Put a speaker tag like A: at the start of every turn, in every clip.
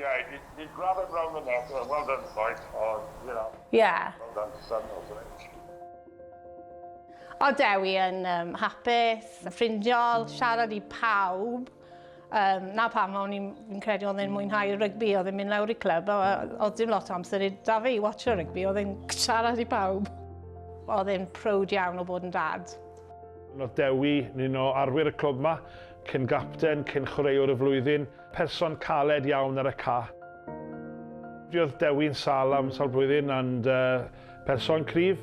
A: Yeah I did did grab him round the neck uh, well done boys oh you know yeah well
B: done son that was great O Dewi yn um, hapus, yn ffrindiol, siarad i pawb. Um, na pam, o'n i'n credu oedd e'n mwynhau rygbi, oedd e'n mynd lawr i clwb, oedd dim lot o amser i da fi watch o rygbi, oedd e'n siarad i pawb. Oedd e'n prowd iawn o bod yn dad. Oedd Dewi,
C: un o arwyr y clwb yma, cyn gapten, cyn chwaraewr y flwyddyn, Person caled iawn ar y ca. Fi oedd Dewi'n sal am sawl blwyddyn and uh, person cryf,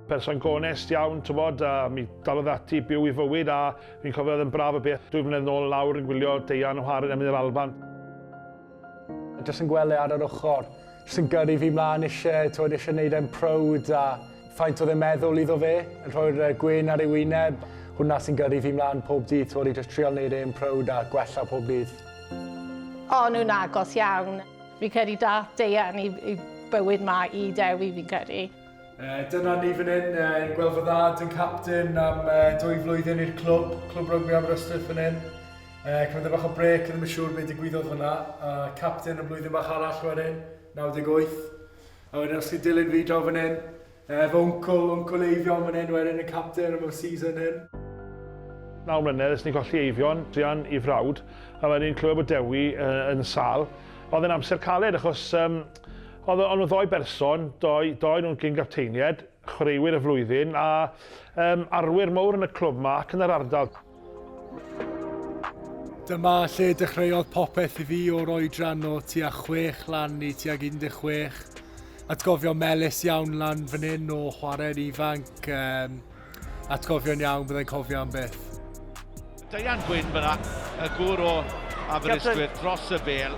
C: person gonest iawn, ti'n bod, a mi dalodd ati byw i fywyd a fi'n cofio oedd yn braf y beth dwy flynedd nôl lawr yn gwylio Deian o Haren yn mynd i'r Alban.
D: Jyst yn gweld e ar yr ochr. sy'n gyrru fi mlaen eisiau, twod, eisiau gwneud e'n prowd a faint oedd e'n meddwl iddo fe, yn rhoi'r uh, gwyn ar ei wyneb. Hwna sy'n gyrru fi mlaen pob dydd, twod, i just trial wneud e'n prowd a gwella pob dydd. O,
B: nhw'n agos iawn. Fi'n credu dath deian i, i bywyd ma i Dewi, fi'n credu. Uh, dyna ni
D: fan hyn, uh, yn gweld fy ddad yn captain am uh, dwy flwyddyn i'r clwb, clwb rygbi Aberystwyth fan hyn. Uh, Cymryd bach o brec, ddim yn siŵr beth digwyddodd fyna. Uh, captain yn blwyddyn bach arall wedyn, 98. A wedyn os ti'n dilyn fi draw fan hyn, uh, fy wncl, wncl Eifion fan hyn wedyn yn captain am y season hyn. Naw
C: mlynedd ys ni colli Eifion, Drian i frawd, a wedyn clywed bod Dewi uh, yn sal. Oedd yn amser caled achos um, Oedd o'n ddoi berson, doi, doi nhw'n gyn-gapteinied, chwaraewyr y flwyddyn a um, arwyr mowr yn y clwb yma ac yn yr ardal.
D: Dyma lle dechreuodd popeth i fi o'r oedran o tua 6 lan i tuag 16. Atgofio melus iawn lan fan hyn o chwarae'r ifanc. Um, Atgofion iawn, byddai'n cofio am byth. Diane
E: Gwyn fyna, y gŵr o Aberystwyth dros y bel.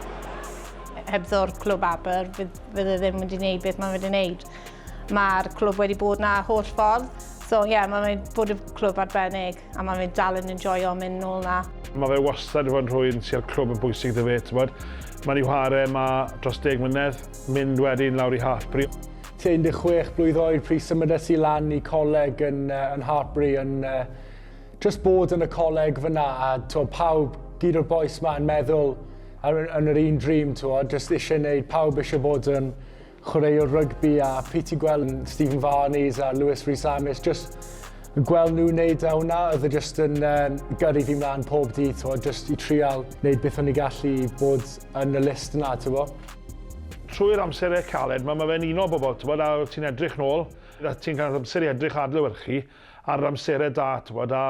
E: Hebddo'r
B: clwb Aber, fydd, fydd e ddim wedi gwneud beth mae wedi gwneud. Mae'r clwb wedi bod na holl ffordd. So ie, yeah, mae wedi bod y clwb arbennig a mae wedi dal yn enjoyo mynd nôl na. Mae fe wastad wedi bod yn
C: rhwy'n sy'n ar clwb yn bwysig dda fe, ti'n bod. Mae'n i'w hare yma dros deg mlynedd, mynd wedyn lawr i Hartbury. Tua 16
D: blwydd oed pryd symudes i lan i coleg yn yy yn Hartbury yn yy jyst bod yn y coleg fyna a t'wo' pawb, gyd o'r bois 'ma yn meddwl ar yr yn yr un dream t'wod jyst isie neud pawb isie bod yn chwaraewr rygbi a pryd ti'n gweld yn Stephen Varney's a Louis Rees-Zammit jyst yn gweld nhw'n neud a hwnna oedd e jyst yn yy gyrru fi mlan pob dydd t'wod jyst i trial neud beth o'n i gallu i bod yn y list yna, t'bo'.
C: Trwy'r amserau caled, ma' ma' fe'n uno bobl, t'bod, a o' ti'n edrych nôl, a ti'n cael amser i edrych adlewyrchu ar yr amserau da, t'bod, a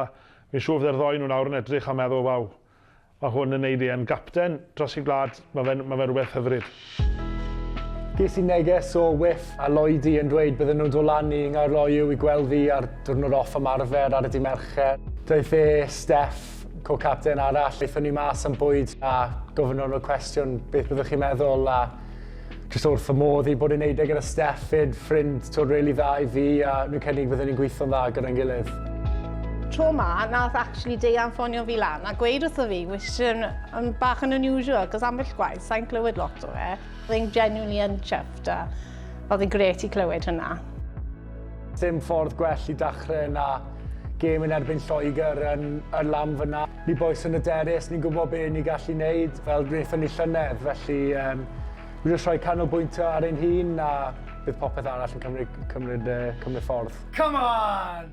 C: fi'n siŵr fydde'r ddou nhw nawr yn edrych a meddwl, waw, ma' hwn yn neud i e'n gapten dros ei gwlad, ma' fe'n ma' fe'n rhywbeth hyfryd.
D: Ges i neges o Whiff a Lloydie yn dweud bydden nhw'n dod lan i Nghaerloyw i gweld fi ar diwrnod off am arfer ar y dydd Mercher. Daeth e, Steff, co-captain arall. Aethon ni mas am bwyd a gofynon nhw cwestiwn, beth byddwch chi'n meddwl? A jyst wrth y modd i bod yn neud e gyda Steph, fyd ffrind twr really dda i fi a nhw'n cynnig byddwn ni'n gweithio'n dda gyda'n gilydd. Tro
B: ma, nath actually Deian ffonio fi lan a gweud wrtho fi, which yn, yn bach yn unusual, cos ambell gwaith, sa'n clywed lot o fe. Oedd e'n genuinely yn chuffed a oedd e'n gret i clywed hynna. Dim
D: ffordd gwell i dachrau na gêm yn erbyn Lloegr yn y lam fyna. Ni boes yn y derys, ni'n gwybod be ni gallu wneud fel wnaethon ni llynedd, felly um, rwy'n rhoi canolbwyntio ar ein hun a bydd popeth arall
F: yn
D: cymryd, cymryd, uh, cymryd ffordd.
F: Come
D: on!